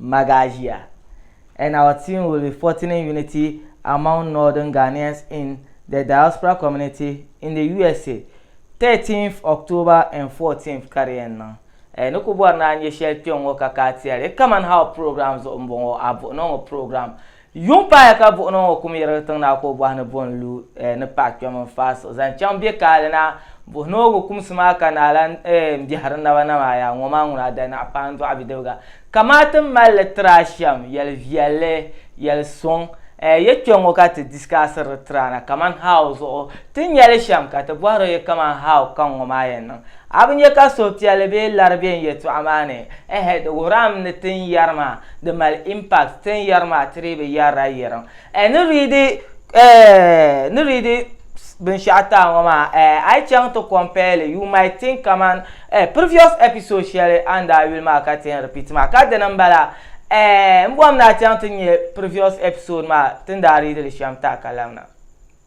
Magagia, and our team will be fortining unity among Northern Ghanaians in the diaspora community in the USA, 13th October and 14th ka di yɛn niŋ. Ɛɛ ni ku bɔri ni a nyɛ shɛli kpɛŋŋɔ ka ka a ti a li? Come and Help program zuɣu m-bɔŋɔ, a buɣi ni o ŋɔ program Yuŋ paaya ka buɣunima ŋɔ kum yirigi tiŋ na ka o bɔhi ni bo n-lu eh ni paɣa kpɛm n-faai siɣi zaŋ chaŋ be kaali na. Buɣi ni o gu kumsi maa ka naa lan eh m-biɛhiri n naba na maa, Yaa ŋɔ maa ŋuna a danaɣ paandɔɣu bidibiga, kamaa ti mal li tiri a shɛm yɛl viɛlli, yɛl suŋ eh ya kpe ŋɔ ka ti disikaasiri di tiri a na kaman how zuɣu ti nya li shɛm ka ti bɔhir o ya kaman how kaŋ ŋɔ maa yɛn niŋ. A bi nya ka suhupiɛlli bee lari be n yɛltɔɣa maa ni? Ɛhɛ, di wuhirami ni tin yɛri maa di mali impact, tin yɛri maa ti dii bi yɛrila yɛrim. Ɛɛ ni riidi ɛɛ ni riidi binshɛɣu taai ŋɔ maa ɛɛ a yi chaŋ ti compare li you might think kaman ɛɛ previous episode shɛli a ni daa yuli maa ka ti yɛn repeat maa ka dini m-bala. Ɛɛ m bɔhim ni a chaŋ ti nya previous episode maa ti ni daa riidi li shɛm taai ka labina.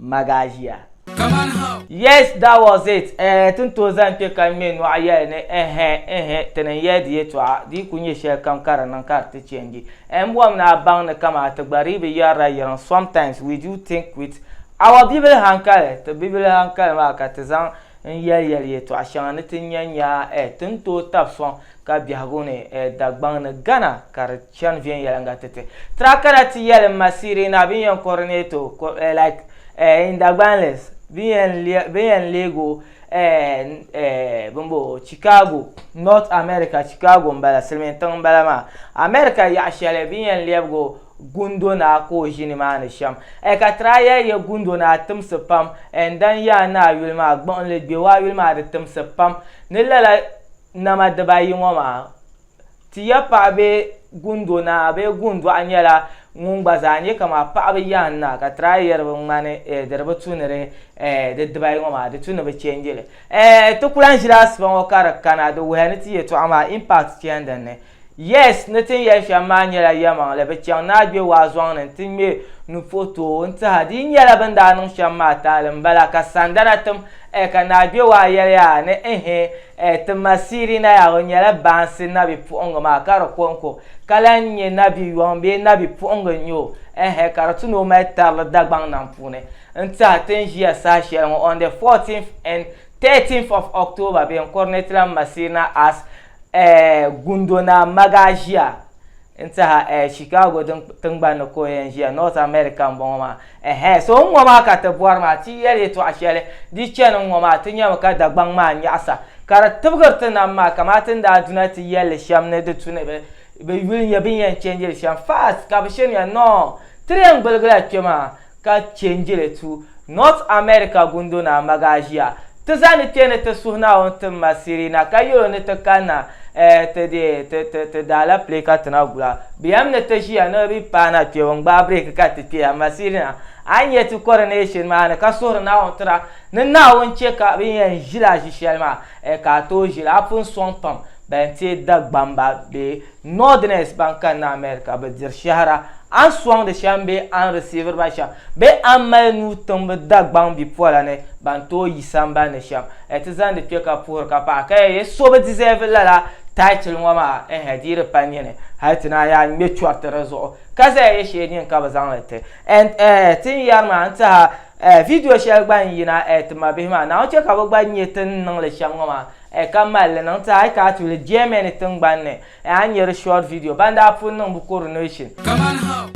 Magasia. Yes that was it eh ti ni tooi zani kpe ka n ŋme nɔɣu yɛli ni ɛhɛ ɛhɛ ti ni yɛli di yɛtɔɣa di yi ku nyɛ shɛlikam ka di niŋ ka di ti change eh n bɔhim ni a baŋ ni kaman ti gba dii bi yɛrila yiŋ sometimes we do think with our bibili hankali ti bibili hankali maa ka ti zaŋ n yɛli yɛli yɛtɔɣa shɛŋa ni ti nya nya eh ti ni tooi tabi sɔŋ ka biɛhigu ni eh Dagbaŋ ni Ghana ka di Chani viɛnyɛliŋga ti ti. Tra kana ti yɛlim ma Sirina bini yɛn coordinato eh, like eh, in Dagbanlis bini yɛn le- bini yɛn leeg o eh, eh, bini bo Chicago, North America, Chicago m-bala, silimiin tiŋ m-bala maa, America yaɣ shɛli bini yɛn lɛbig o Gundo Naa ka o ʒi nimaani shɛm. Eh, ka tra yɛli ya Gundo Naa timsi pam eh, n-dan ya a ni a yuli maa gbuɣinli gbɛbu a yuli maa di timsi pam ni lala nama dibaayi ŋɔ maa. Ti ya paɣa bee gundo naa bee gundɔɣu nyɛla ŋun gba zaa nyɛ kama paɣaba yahin naa ka try yɛri bi ŋmani eh, di di bi tu ni di eh, di dibayi ŋɔ maa di tu ni bi change li. Eh, ti ku lahi ʒila asipa ŋɔ ka di kana di wuhiya ni ti yɛtɔɣa maa impact chani din ni. Yes, ni tin yɛli shɛm maa nyɛla yɛmaŋli, bi chaŋ ni a gbe waa zɔŋ ni nti ŋme nu puhi tooi o n-tih a. Di yi nyɛla bɛ ni daa niŋ shɛm maa taali m-bala ka sandana tim eh, ka naa gbe waa yɛli a ni ehe, Ɛɛ ti ma Sirina yaa o nyɛla baansi nabi puɣingi maa ka di konko ka lan nyɛ nabi yɔŋ bee nabi puɣingi n nyɛ o ɛɛhɛ ka di ti ni o mali tarili Dagbaŋ nam puuni n tiɛha ti ni ʒiya saha shɛli ŋɔ on the 14th and 13th of October bee n kuri ni ti lan ma Sirina as ɛɛ Gundo Naa Magaa ʒiya N tiɛha eh, Chicago din tingbani ni ka o yɛn ʒiya, North America m-bɔŋɔ maa. Ɛhɛɛ, so n-ŋɔ maa ka ti bɔri maa, ti yɛli yɛtɔɣ shɛli, di chani n-ŋɔ maa, ti nyami ka Dagbaŋ maa nyaɣisa, ka di tibigiri ti nam maa, kamaa ti ni daa du na ti yɛl li shɛm ni di tu ni bɛ bɛ yuli nya bɛ ni yɛn change li shɛm. Fast! Ka bɛ shirinya, Noo! Ti di yɛn gbiligila kpe maa. ka chɛ n-je li tu North America gundo ni a magaʒia. Ti zaa ni kpe ni ti suhi Naawuni ti ma Sirina ka yɛl o ni ti kanna eh ti deei ti ti ti daalɛpile ka ti na gula. Bɛ yɛm ni ti ʒiya ni bɛ paana kpɛbu n-gbaai breeki ka ti kpe amaa Sirina a ni yɛn ti coronation maa ni ka suhiri Naawuni tira ni Naawuni chɛ ka bɛ yɛn ʒila ʒi shɛli maa eh ka a tooi ʒili a pun sɔŋ pam bɛn teei Dagbamba bee Northerners ban kanna America bi diri shɛhira, a ni sɔŋdi shɛm bee a ni risiiviri ba shɛm, bee a ni mali nuu tiŋbi Dagbaŋ bipola ni ban tooi yi sambani ni shɛm, a ti zaŋdi kpe ka puhiri ka paɣi ka yɛli so bi deserve lala title ŋɔ maa, ɛhɛ di yi di pa nini hali ti naan yaa ŋme chɔriti di zuɣu ka zaya yɛ shee nini ka bi zaŋli ti and ɛhɛ ti ni yɛri maa n tiha ɛhɛ video shɛli gba n yina ɛhɛ ti mabihi maa Naawuni chɛ ka bi gba nyɛ ti ni niŋli shɛm ŋɔ maa A ka mali li niŋ ti a yi ka a tuuli Germany tingbani ni, a ni nya di short video ban daa pun niŋ bɛ coronation. Kaman ha.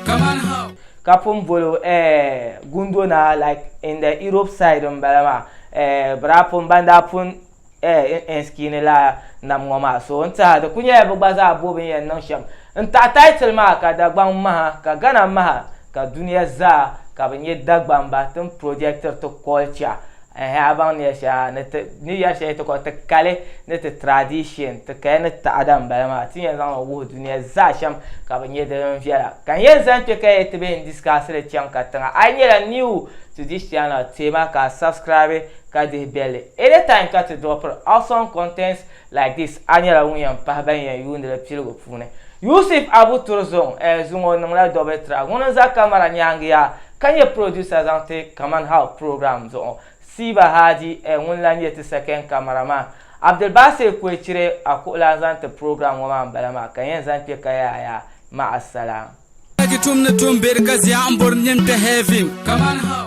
Kaman ha. Ka pun bol o eh, Gundo Naa like in the Europe side m-bala maa eh, bɛ daa pun, ban daa pun eh, n skini la nam ŋɔ maa so n tiɛha di ku nyɛla bi gba zaa bo bin yɛn niŋ shɛm n taɣi title maa ka Dagbaŋ maha ka Ghana maha ka dunia zaa ka bi nyɛ Dagbamba ti ni projectiri ti culture eh, a baŋ ni yɛli shɛli ha ni ti ni yɛli shɛli ti kɔli ti kali ni ti tradition ti kaya ni taɣada n bala maa ti yɛn zaŋli wuhi dunia zaa shɛm ka bi nyɛ din viɛla ka n yɛn zani kpɛ ka yɛli ti bɛ n discussili chaŋ ka tiŋa a yi nyɛla new to this channel teema ka a subscribe ka dihi bɛlli. Anytime ka ti drop awesome contents like this a nyɛla ŋun yɛn pahi ban yɛn yuuni li piligu puuni. Yusuf Abu Turzong eh zuŋɔ o niŋla double track ŋuni n za camera nyaangi yaa ka nyɛ producer zaŋ ti Kaman How program zuɣu. Siiba Hadi eh ŋuni lan nyɛ ti second camera man. Abdulbasir Kwecire a kuɣulan zaŋ ti program ŋɔ maa n bala maa ka yɛn zaŋ kpe ka yaaya. Ma'asalaam. Dagi tum ni tum beri ka zia n bori nim te heaven. Kaman how.